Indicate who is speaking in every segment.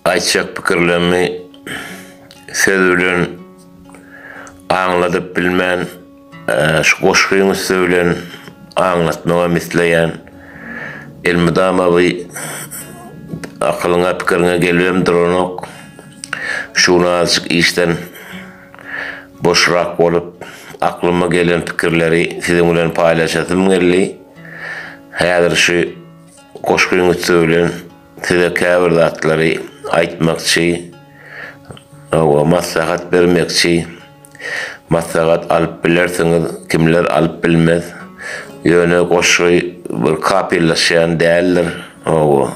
Speaker 1: Aýtjak pikirlerimi söz bilen aňladyp bilmän, şu goşgyň üsti bilen aňlatmagam isleýän. Elmydama bu akylyňa, pikiriňe gelibem duranok. Şu gün azajyk işden boşrak bolup, aklyma gelen pikirleri siziň bilen paýlaşasym geldi. Häzir şu goşgyň üsti bilen. Size käbir zatlary aýtmakçy we maslahat bermekçi. Maslahat alyp bilersiňiz, kimler alyp bilmez. Ýöne goşgy bir kapylaşýan däldir.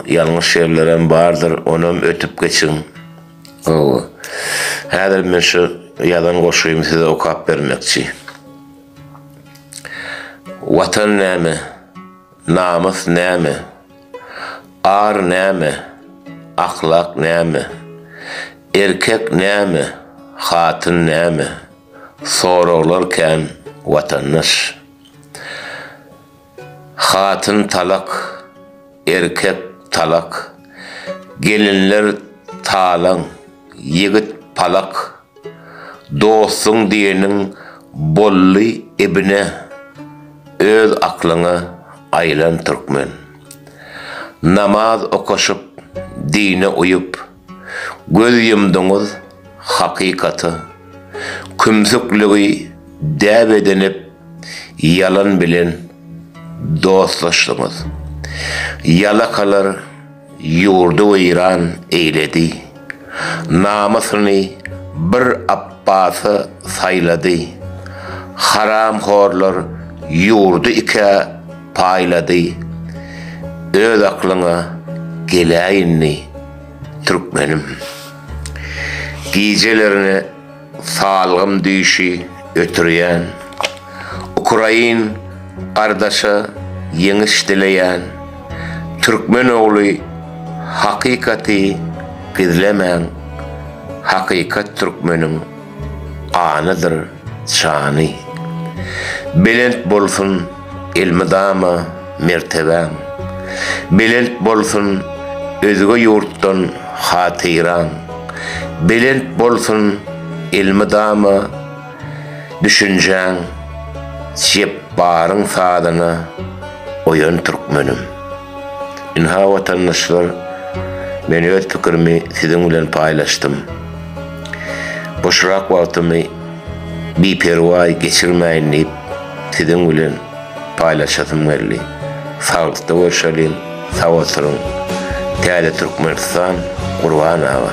Speaker 1: Ýalňyş ýerlerem bardyr, onam ötüp geçiň. Häzir men şu ýazan goşgymy size okap bermekçi. Watan näme? Namys näme? Ar näme? Ahlak näme? Erkek näme? Hatyn näme? Soraglar kän, watandaş. Hatyn talak, erkek talak, gelinler talaň, ýigit palak. Dostuň diýeniň bolly ibine öz aklyňa aýlan türkmen. Namaz okaşyp dine uýup göz ýumdyňyz hakykata kümsükligi däp edinip ýalan bilen dostlaşdyňyz. Ýalakalar. Ýurdy weýran eýledi. Namysyny bir Apbasy saýlady. Haramhorlar ýurdy ikä paýlady. Öz aklyňa geläýindi, türkmenim. Gijelerine. Salgym düýşi ötürýän. Ukrain gardaşa ýeňiş dileýän. Türkmen ogly hakykaty gizlemäň. Hakykat türkmeniň ganydyr jany. Belent bolsun. elmydama mertebäň Belent bolsun özge ýurtdan hatyraň Belent bolsun elmydama düşünjäň Jepbaryň sazyna oýan türkmenim Ynha watandaşlar men öz pikirimi siziň bilen paýlaşdym Boşrak wagtymy biperwaý geçirmäýin diýip siziň bilen paýlaşasym geldi. Saglykda görşeliň, sag oturyň. Täze Türkmenistan Gurban aga.